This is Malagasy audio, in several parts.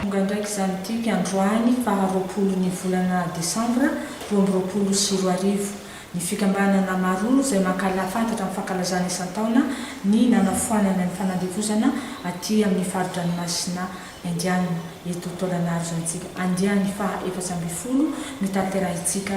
Tonga ndraiky izany tily androany faha roapolo ny volana desambra roa amby roapolo sy roa arivo. Ny fikambanana maro izay mankahala fantatra amin'ny fankalazana isan-taona ny nanafoanana ny fanandevozana aty amin'ny fari-dranomasina Indianina eto Tôlanaro izany tsika andiany faha efatra ambin'ny folo notanterahintsika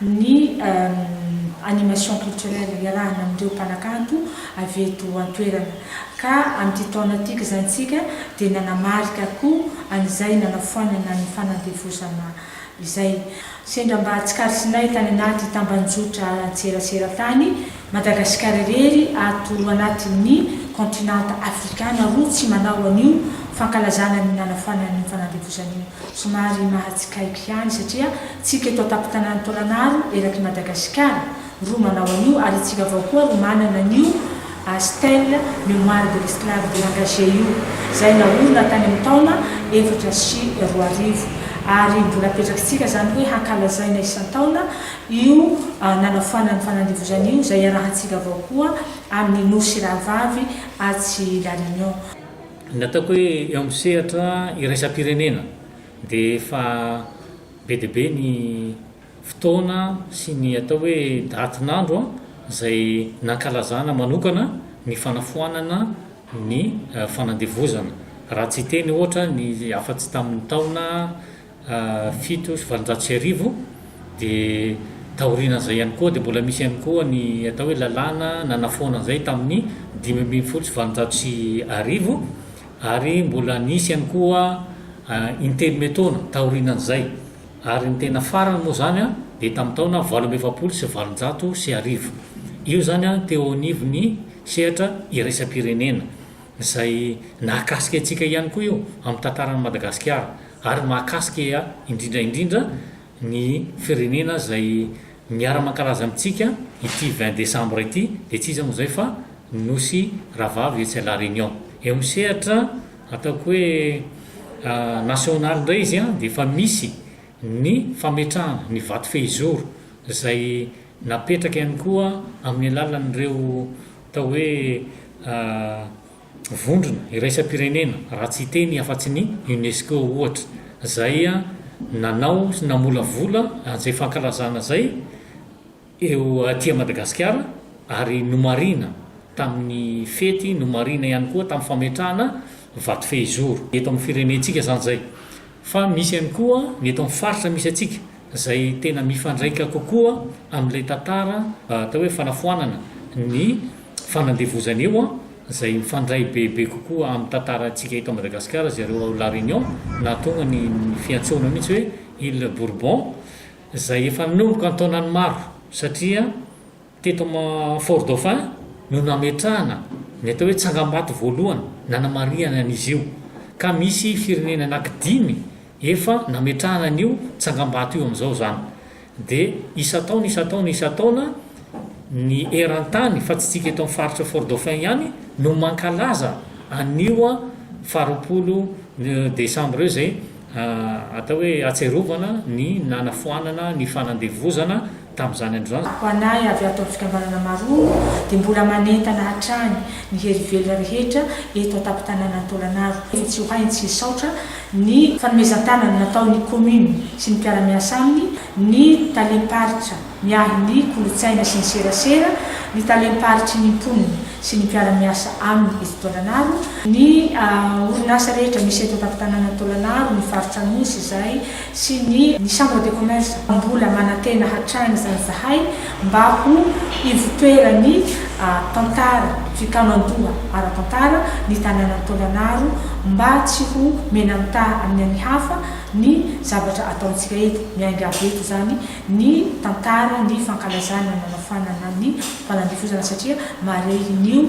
ny animation culturelle iarahana amin'ireo mpanakanto avy eto an-toerana ka amin'ity taona ity kizantsika dia nanamarika koa an'izay nanafoanana ny fanandevozana izay. Sendra mba tsikaritrinay tany anaty tambanjotra an-tserasera tany. Madagasikara irery ato anatin'ny kaontinanta afrikana roa tsy manao an'io fankalazana ny nanafana ny fanandevozana io. Somary mahatsikaiky ihany satria tsika eto an-tampon-tanàn'i Tôlanaro eraky Madagasikara roa manao an'io ary itsika avao koa roa manana an'io stèle Mémoire de l'esclave de l'engagé io izay naorina tany amin'ny taona efatra sy roa arivo ary mbola apetrakitsika izany hoe hankalazaina isan-taona io nanafana ny fanandevozana io izay iarahantsika avao koa amin'ny Nosy Rahavavy atsy La Réunion. Ny ataoko hoe eo amin'ny sehatra iraisam-pirenena dia efa be dia be ny fotoana sy ny atao hoe datin'andro izay nankalazana manokana ny fanafoanana ny fanandevozana, raha tsy teny ohatra ny afa-tsy tamin'ny taona fito sy valonjato sy arivo dia taorianan'izay ihany koa dia mbola misy ihany koa ny atao hoe lalàna nanafoana an'izay tamin'ny dimy ambin'ny folo sy valonjato sy arivo ary mbola nisy ihany koa intelo me taona taorianan'izay ary ny tena farany moa izany an dia tamin'ny taona valo amby efapolo sy valonjato sy arivo io izany an teo anivon'ny sehatra iraisam-pirenena izay nahakasika antsika ihany koa io amin'ny tantaran'i Madagasikara ary mahakasika indrindra indrindra ny firenena izay miara-mankalaza amintsika ity vingt décembre ity dia tsy iza moa izay fa ny Nosy Rahavavy etsy à la Réunion. Eo amin'ny sehatra ataoko hoe nasionaly indray izy dia efa misy ny fametrahana ny vato fehizoro izay napetraka ihany koa amin'ny alalan'ireo atao hoe vondrona iraisam-pirenena raha tsy hiteny afa-tsy ny Unesco ohatra izay nanao sy namolavola an'izay fankalazana izay eo aty Madagasikara ary nomarihina tamin'ny fety, nomarihina ihany koa tamin'ny fametrahana vato fehizoro. Eto amin'ny firenentsika izany izay Fa misy ihany koa ny eto amin'ny faritra misy antsika izay tena mifandraika kokoa amin'ilay tantara atao hoe fanafoanana ny fanandevozana io an, izay mifandray bebe kokoa amin'ny tantarantsika eto Madagasikara izay ireo ao La Réunion nahatonga ny ny fiantsoana mihitsy hoe Îles Bourbon izay efa nanomboka an-taonany maro satria Teto Fort Dauphin no nametrahana ny atao hoe tsangambato voalohany nanamarihana an'izy io, ka misy firenena anaky dimy efa nametrahana an'io tsangambato io amin'izao izany. Dia isan-taona, isan-taona, isan-taona ny eran-tany, fa tsy isika eto amin'ny faritra Fort Dauphin ihany no mankalaza an'io faharoapolo desambra io izay atao hoe atsiarovana ny nanafoanana ny fanandevozana tamin'izany andro izany. Ho anay avy ato amin'ny fikambanana Marongo dia mbola manentana hatrany ny hery velona rehetra eto an-tampon-tanànan'i Tôlanaro fa tsy ho hay ny tsy hisaotra ny fanomezan-tanana nataon'ny kaomina sy ny mpiara-miasa aminy, ny talem-paritra miahy ny kolontsaina sy ny serasera, ny talem-paritry ny mponina sy ny mpiara-miasa aminy eto Tôlanaro, ny orinasa rehetra misy eto an-tampon-tanànan'i Tôlanaro, ny faritra Anosy izay sy ny ny Chambre de Commerce mbola manantena hatrany izany izahay mba ho ivotoeran'ny tantara fikaonan-doha ara-tantara ny tanànan'i Tôlanaro mba tsy ho mena-mitaha amin'ny an'ny hafa ny zavatra ataontsika eto. Miainga avy eto izany ny tantara ny fankalazana ny nanafoanana ny fanandifozana satria marehin'io